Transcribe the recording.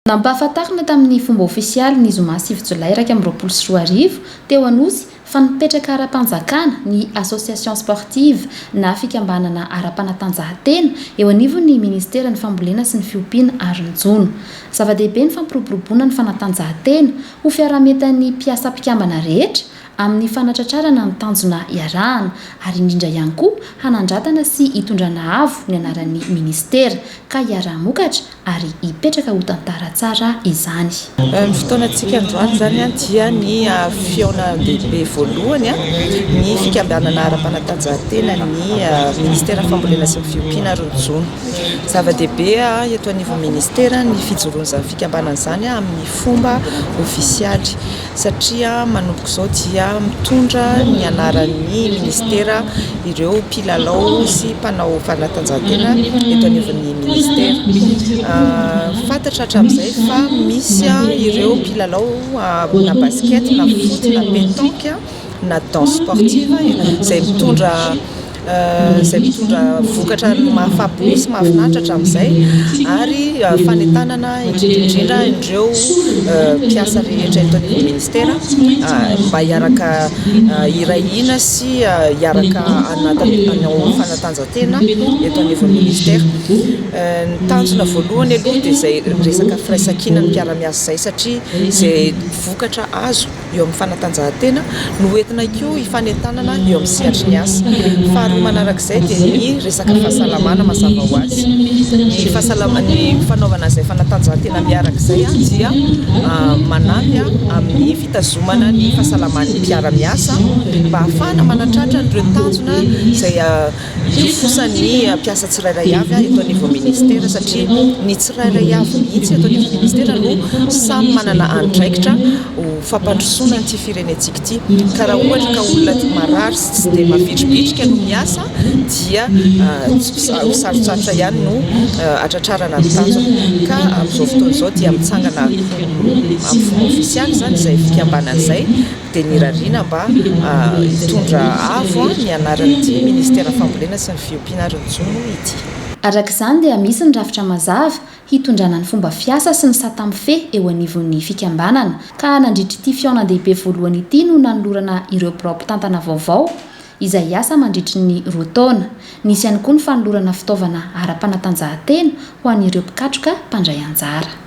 Nampahafantarina tamin'ny fomba ofisialy ny zoma sivy jolay iraika amby roapolo sy roa arivo, teo Anosy, fa nipetraka ara-panjakana ny Association sportive na fikambanana ara-panatanjahantena eo anivon'ny Ministeran'ny Fambolena sy ny Fiompiana ary ny Jono. Zava-dehibe ny fampiroboroboana ny fanatanjahantena ho fiaraha-mientan'ny mpiasa mpikambana rehetra amin'ny fanatratrarana ny tanjona iarahana, ary indrindra ihany koa hanandratana sy hitondrana avo ny anaran'ny Ministera, ka hiaraha-mokatra ary hipetraka ho tantara tsara izany. Ny fotoanantsika androany izany dia ny fihaonandehibe voalohany ny fikambanana ara-panatanjahantena ny Ministeran'ny Fambolena sy ny Fiompiana ary ny Jono. Zava-dehibe eto anivon'ny Ministera ny fijoroan'izany fikambanana izany amin'ny fomba ofisialy. satria manomboka izao dia mitondra ny anaran'ny minisitera ireo mpilalao sy mpanao fanatanjahantena eto anivon'ny minisitera. Fantatra hatramin'izay fa misy ireo mpilalao na basket na foot na pétanque na danse sportive izay mitondra izay mitondra vokatra mahafapo sy mahafinaritra hatramin'izay ary fanentanana indrindra indrindra ireo mpiasa rehetra eto amin'ny ministera mba hiaraka hiray hina sy hiaraka hanao fanatanjahantena eto anivon'ny ministera. Ny tanjona voalohany aloha dia izay resaka firaisankinan'ny mpiara-miasa izay satria izay vokatra azo eo amin'ny fanatanjahantena no hoentina koa hifanentanana eo amin'ny sehatry ny asa. Faharoa manarak'izay dia ny resaka fahasalamana mazava ho azy. Ny fahasalama- ny fanaovana izay fanatanjahantena miaraka izay dia manampy amin'ny fitazomana ny fahasalaman'ny mpiara-miasa mba hahafahana manatratra an'ireo tanjona izay Tiako kosa ny mpiasa tsirairay avy eto anivon'ny Ministera satria ny tsirairay avy mihitsy eto anivon'ny Ministera no samy manana andraikitra ho fampandrosoana ity firenentsika ity ka raha ohatra ka olona marary sy tsy dia mavitribitrika no miasa dia ho sarotsarotra ihany no hatratrarana ny tanjona ka amin'izao fotoana izao dia mitsangana amin'ny fomba ofisialy izany izay fikambanana izay dia nirariana mba hitondra avo ny anaran'ity Ministeran'ny Fambolena sy ny Fiompiana ary ny Jono ity. Araka izany dia misy ny rafitra mazava hitondrana ny fomba fiasa sy ny sata mifehy eo anivon'ny fikambanana ka nandritra ity fihaonandehibe voalohany ity no nanolorana ireo birao mpitantana vaovao izay hiasa mandritry ny roa taona. Nisy ihany koa ny fanolorana fitaovana ara-panatanjahantena ho an'ireo mpikatroka mpandray anjara.